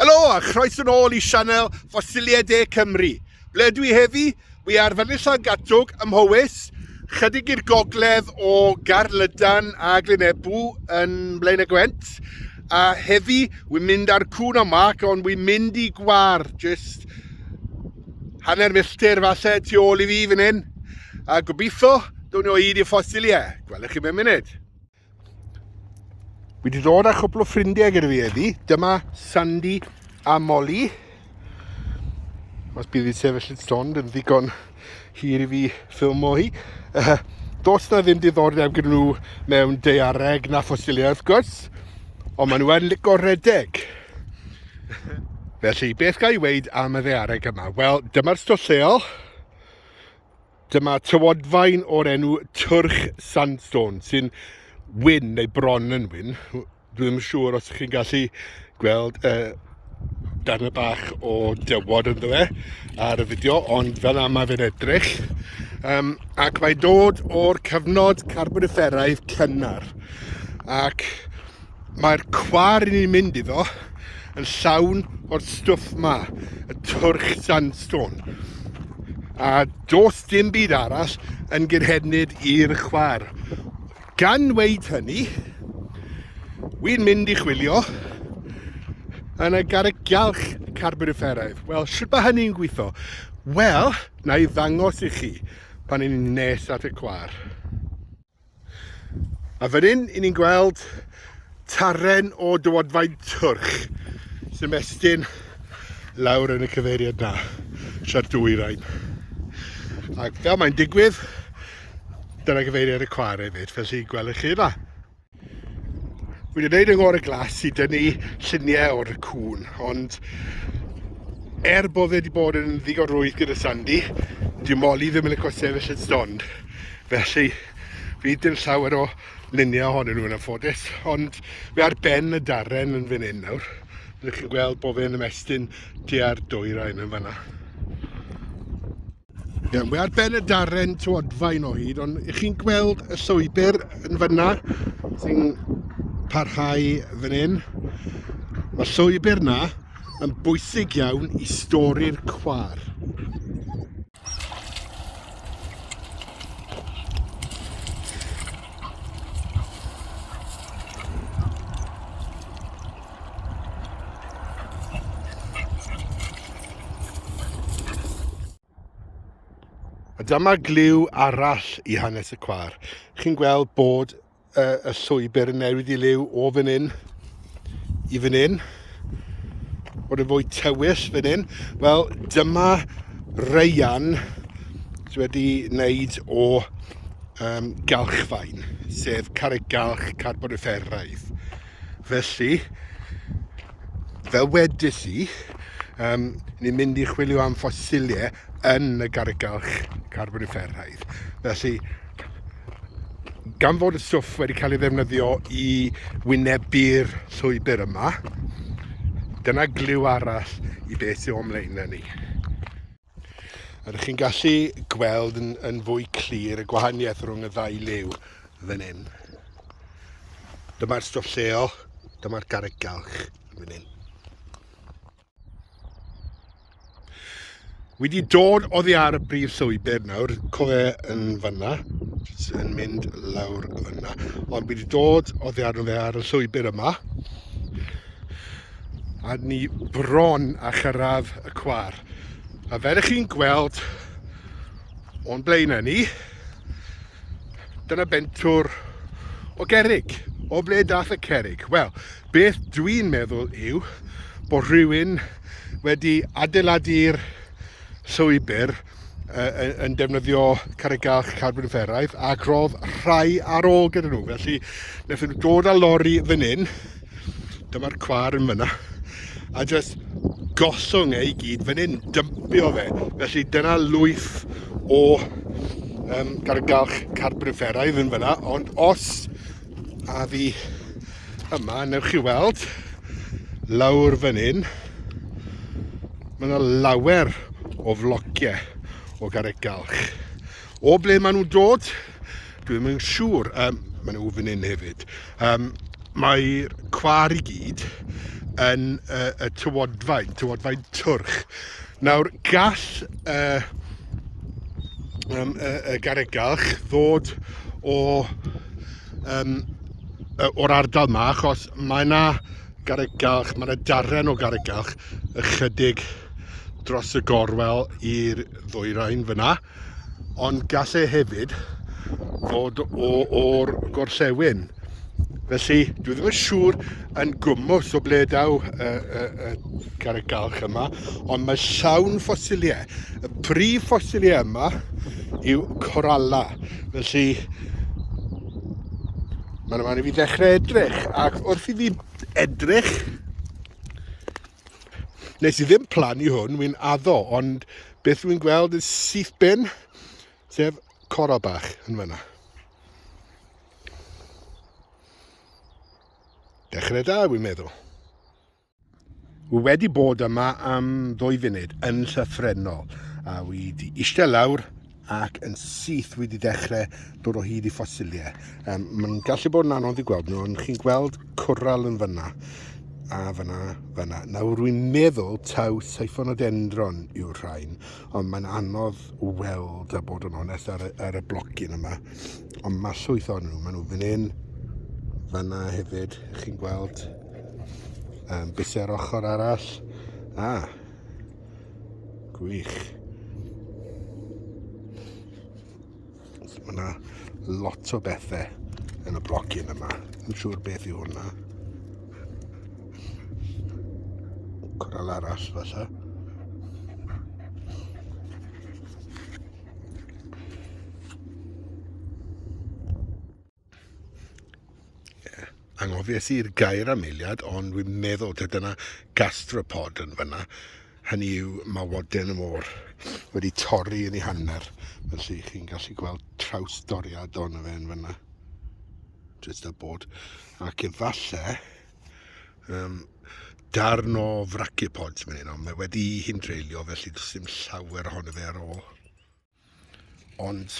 Helo a chroes yn ôl i sianel Ffosiliau De Cymru. Ble dwi heddi? Wi ar Fynydd Llangatwg ym Mhowys, chydig i'r gogledd o Garlydan a Glyn Ebw yn Blaen y Gwent. A heddi, wi'n mynd ar cwn o mac, ond wi'n mynd i gwar, jyst Hanner milltir falle tu ôl i fi fan hyn, a gobeithio dwn i o hyd i'r ffosiliau. Gwelwch chi mewn munud. Fi wedi dod â chwpl o ffrindiau gyda fi heddi. Dyma Sandy a Molly. Os bydd i sefyll yn stond yn ddigon hir i fi ffilm o hi. Uh, dos na ddim diddordeb gyda nhw mewn deiareg na ffosiliau wrth gwrs, ond maen nhw yn licio redeg. Felly, beth gael ei weid am y ddeareg yma? Wel, dyma'r stwll lleol. Dyma tywodfaen o'r enw Twrch Sandstone, sy'n wyn neu bron yn wyn. Dwi ddim yn siŵr os chi'n gallu gweld y uh, darnau bach o dywod ynddo fe ar y fideo, ond fel yma mae fe'n edrych. Um, ac mae dod o'r cyfnod carboniferaidd cynnar. Ac Mae'r cwar i ni'n mynd iddo yn llawn o'r stwff ma, y twrch sandstone. A dos dim byd arall yn gyrhednid i'r chwar. Gan weid hynny, wy'n mynd i chwilio yn y garreg galch carbonifferaidd. Wel, sut mae hynny'n gweithio? Wel, na i ddangos i chi pan ni'n nes at y cwar. A fan hyn, i ni'n gweld taren o dywodfaen twrch sy'n mestyn lawr yn y cyfeiriad na, siart dwy rain. A fel mae'n digwydd, dyna gyfeiriad y cwar hefyd, fel sy'n gwelwch chi yma. Wedi gwneud yng ngor y glas i dynnu lluniau o'r cŵn, ond er bod fe wedi bod yn ddigon rwydd gyda Sandy, dyw Molly ddim yn y cosefyll yn stond. Felly, fi dim llawer o luniau ohonyn nhw yn anffodus, ond fe ar ben y darren yn fan hyn nawr. Rydych chi'n gweld bod fe'n ymestyn tua'r dwyrain yn fanna. Iawn, mae ar ben y darren tywodfaen o hyd, ond ych chi'n gweld y llwybr yn fyna sy'n parhau fan hyn? Mae llwybr na yn bwysig iawn i stori'r cwar. dyma glyw arall i hanes y cwar. Chi'n gweld bod uh, y llwybr yn newid i liw o fan hyn i fan hyn. Bod yn fwy tywys fan hyn. Wel, dyma reian sydd wedi wneud o um, galchfaen, sef carreg galch carboniferaidd. Felly, fel wedys i, um, ni'n mynd i chwilio am ffosiliau yn y gargalch carboniferaidd. Felly, gan fod y stwff wedi cael ei ddefnyddio i wynebu'r llwybr yma, dyna glyw arall i beth sy'n o'n mlaen ni. Rydych chi'n gallu gweld yn, yn fwy clir y gwahaniaeth rhwng y ddau liw fan hyn. Dyma'r stwff lleol, dyma'r garreg galch fan hyn. Wedi dod oddi ar y brif llwybr nawr, cofe yn fanna, yn mynd lawr fanna. Ond wedi dod oddi arno fe ar y llwybr yma, a ni bron a chyrraedd y cwar. A fel ych chi'n gweld o'n blaen â ni, dyna bentwr o gerig. O ble dath y cerig? Wel, beth dwi'n meddwl yw bod rhywun wedi adeiladu'r llwybr yn defnyddio carreg galch carbon fferaidd ac roedd rhai ar ôl gyda nhw. Felly, wnaethon nhw dod â lori fan hyn, dyma'r cwar yn fyna, a jyst gollwng ei gyd fan hyn, dympio fe. Felly dyna lwyth o um, garreg galch carbon fferaidd yn fyna, ond os A fi yma, newch chi weld, lawr fan hyn, mae yna lawer o flociau o garreg galch. O ble maen nhw'n dod? Dwi ddim yn siŵr. Um, mae nhw fan hyn hefyd. Um, Mae'r cwar i gyd yn uh, y tywodfaen, tywodfaen twrch. Nawr, gall y, um, y, y garegalch ddod o, um, o'r ardal yma, achos mae yna garegalch, mae yna darren o garegalch ychydig dros y gorwel i'r ddwyrain fyna. ond gall e hefyd fod o o'r gorllewin. Felly, dwi ddim yn siŵr yn gwmwll o ble daw y, y, y carreg galch yma, ond mae llawn ffosiliau. Y prif ffosiliau yma yw coralla. Felly, mae'n rhaid i fi ddechrau edrych, ac wrth i fi edrych, Nes i ddim plan i hwn, wy'n addo, ond beth wy'n gweld yn syth bin, sef coro bach yn fyna. Dechrau da, wy'n meddwl. Wy wedi bod yma am ddwy funud yn llyffrennol, a wy wedi eistedd lawr ac yn syth wedi dechrau dod o hyd i ffosiliau. Um, Mae'n gallu bod yn anodd i gweld nhw, ond chi'n gweld cwrral yn fyna, a fyna, fyna. Nawr rwy'n meddwl taw seifon o dendron yw'r rhain, ond mae'n anodd weld a bod yn onest ar, ar y blocyn yma. Ond mae llwyth o'n nhw, maen nhw fan hyn, fyna hefyd, chi'n gweld um, bus ar ochr arall. Ah, Gwych. Mae yna lot o bethau yn y blocyn yma. Yn siŵr beth yw hwnna. Coral arall falle. anghofies i'r gair am eiliad, ond wy'n meddwl ta dyna gastropod yn fyna. Hynny yw, mae waden y môr wedi torri yn ei hanner, felly chi'n gallu gweld traws doriad o'n fe yn fyna. Just a bod. Ac efallai, um, darn o fraciopods mae'n hyn, ond mae wedi hi'n dreulio, felly does dim llawer ohono fe ar ôl. Ond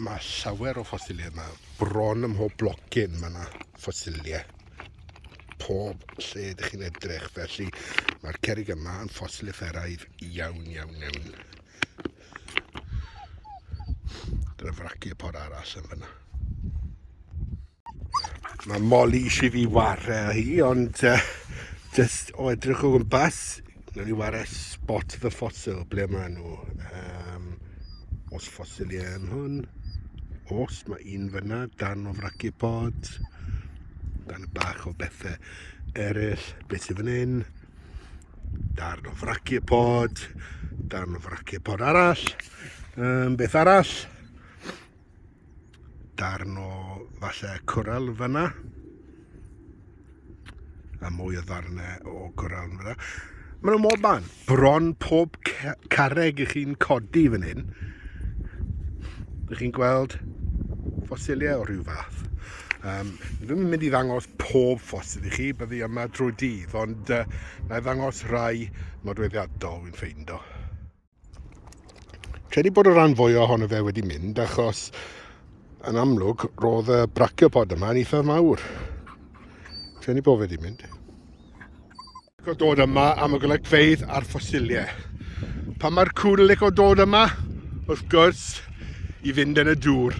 mae llawer o ffosiliau yma. Bron ym mhob blocyn mae yna ffosiliau. Pob lle ydych chi'n edrych. Felly mae'r cerig yma yn ffosil efferaidd iawn, iawn, iawn. Dyna fraci y por arall yn fyna. Mae Molly eisiau fi ware â hi, ond uh, just o edrych o gwmpas, nawn ni ware Spot the Fossil, ble maen nhw. Um, os ffosiliau yn hwn, os mae un fyna, dan o fracu pod, dan y bach o bethau eraill, beth sydd fan hyn, darn o fracu pod, darn o fracu pod arall, um, beth arall, darn o falle cwrel fyna a mwy o ddarnau o cwrel fyna maen nhw mor ban bron pob carreg i chi'n codi fan hyn ydych chi'n gweld ffosiliau o rhyw fath Um, ddim yn mynd i ddangos pob ffosil i chi, byddi yma drwy dydd, ond uh, na i ddangos rai nodweddiadol wy'n ffeindo. Credu bod y rhan fwy ohono fe wedi mynd achos yn amlwg roedd y brachiopodd yma yn eitha mawr. Credu bod fe wedi mynd. Go dod yma am y golygfeydd a'r ffosiliau. Pa mae'r cŵn yn licio dod yma? Wrth gwrs, i fynd yn y dŵr.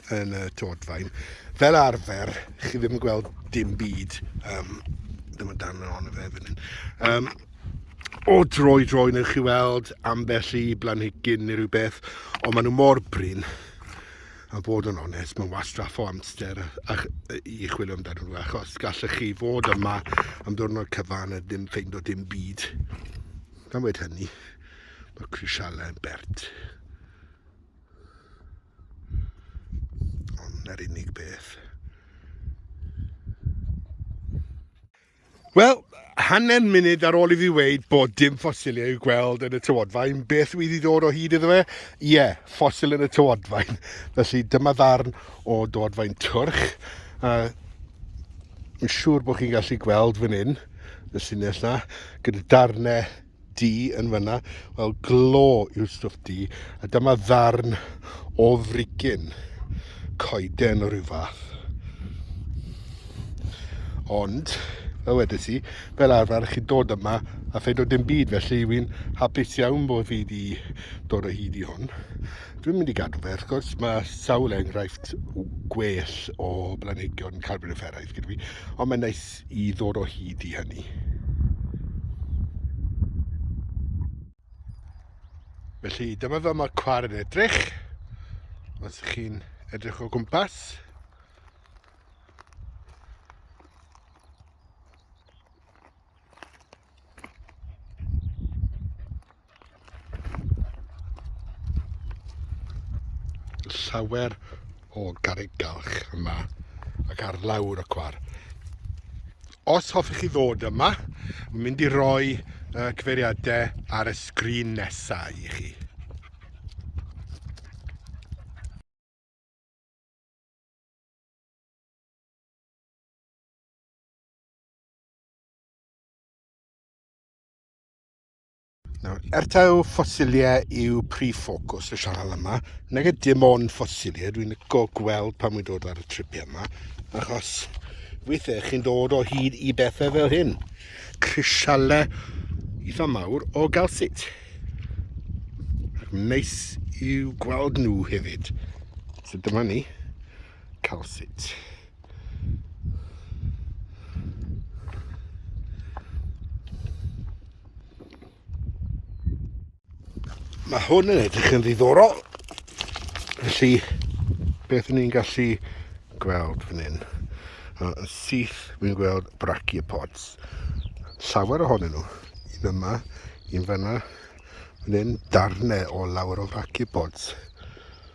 yn y todfaen. Fel arfer, chi ddim yn gweld dim byd. Um, ddim yn dan yn ond fe fan hyn. Um, o dro i dro, newch chi weld ambell i blanhigyn neu rhywbeth, ond maen nhw mor brin. A bod yn onest, mae'n wastraff o amser a, a, i chwilio amdano nhw, achos gallech chi fod yma am ddwrnod cyfan a ddim ffeind o dim byd. Gan wedi hynny, mae crisialau yn bert. Na'r unig beth. Wel, hanner munud ar ôl i fi weid bod dim ffosiliau i'w gweld yn y tywodfaen, beth wydd i ddod o hyd iddo fe? Ie, yeah, ffosil yn y tywodfaen. Felly dyma ddarn o dywodfaen twrch. Uh, yn siŵr bod chi'n gallu gweld fan hyn, y llinell na, gyda darnau du yn fyna. Wel, glo yw'r stwff du, a dyma ddarn o frigyn coeden o ryw fath. Ond, fel wedes i, fel arfer, chi dod yma a phaid o dim byd, felly wy'n hapus iawn bod fi wedi dod o hyd i hwn. Dwi'n mynd i gadw fe, wrth gwrs, mae sawl enghraifft gwell o blanhigion carboniferaidd gyda fi, ond mae'n neis rhaid i ddod o hyd i hynny. Felly dyma fel mae'r cwar yn edrych. Os ydych chi'n edrych o gwmpas. llawer o garreg galch yma ac ar lawr y cwar. Os hoffech chi ddod yma, mae'n mynd i roi uh, cyfeiriadau ar y sgrin nesau i chi. Nawr, er taw ffosiliau yw prif ffocws y sianel yma, nag ydy dim ond ffosiliau, dwi'n go gweld pan wy'n dod ar y tripiau yma, achos weithiau chi'n dod o hyd i bethau fel hyn, crisialau eitha mawr o galsit. Ac neis i'w gweld nhw hefyd. So dyma ni. calcit. Mae hwn yn edrych yn ddiddorol. Felly, beth ni'n gallu gweld fan hyn? Yn syth, fi'n gweld brachiopods. Llawer ohonyn nhw. Un yma, un fanna, fan hyn, darnau o lawer o brachiopods.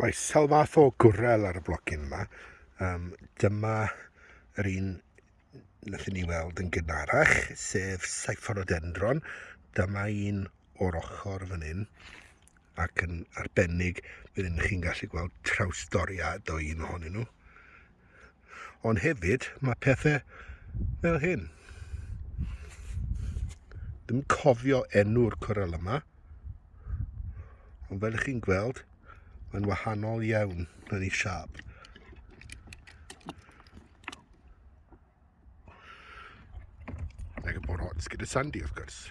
Mae sawl fath o gwrel ar y blocyn yma. Um, dyma yr un nath ni weld yn gynharach, sef Cyphorodendron. Dyma un o'r ochr fan hyn, ac yn arbennig, byddwn chi'n gallu gweld trawstoriad o un ohonyn nhw. Ond hefyd, mae pethau fel hyn. Dwi'n cofio enw'r cwrel yma, ond fel ych chi'n gweld, mae'n wahanol iawn yn ei siap. Like a bod gyda Sandy, of course.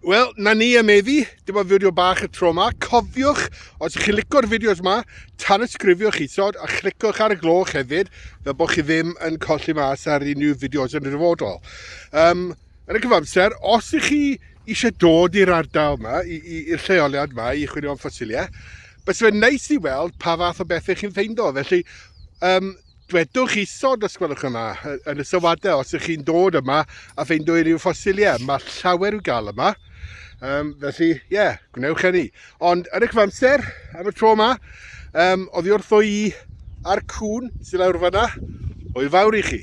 Wel, na ni am eddi, dyma fideo bach y tro yma. Cofiwch, os ydych chi'n licio'r fideos yma, tanysgrifiwch isod a chlicwch ar y gloch hefyd, fel bod chi ddim yn colli mas ar unrhyw fideos yn y dyfodol. Um, yn y cyfamser, os ydych chi eisiau dod i'r ardal yma, i'r lleoliad yma, i chwilio am ffosiliau, bys fe'n neis i weld pa fath o bethau chi'n ffeindo. Felly, um, Dwedwch isod, os gwelwch yn dda, yn y sylwadau, os ydych chi'n dod yma a ffeindio unrhyw ffosiliau. Mae llawer i'w gael yma, um, felly, ie, yeah, gwnewch enni. Ond yn y cyfamser, am y tro yma, um, oddi wrtho i a'r cwn sy'n lawr fanna, o'i fawr i chi.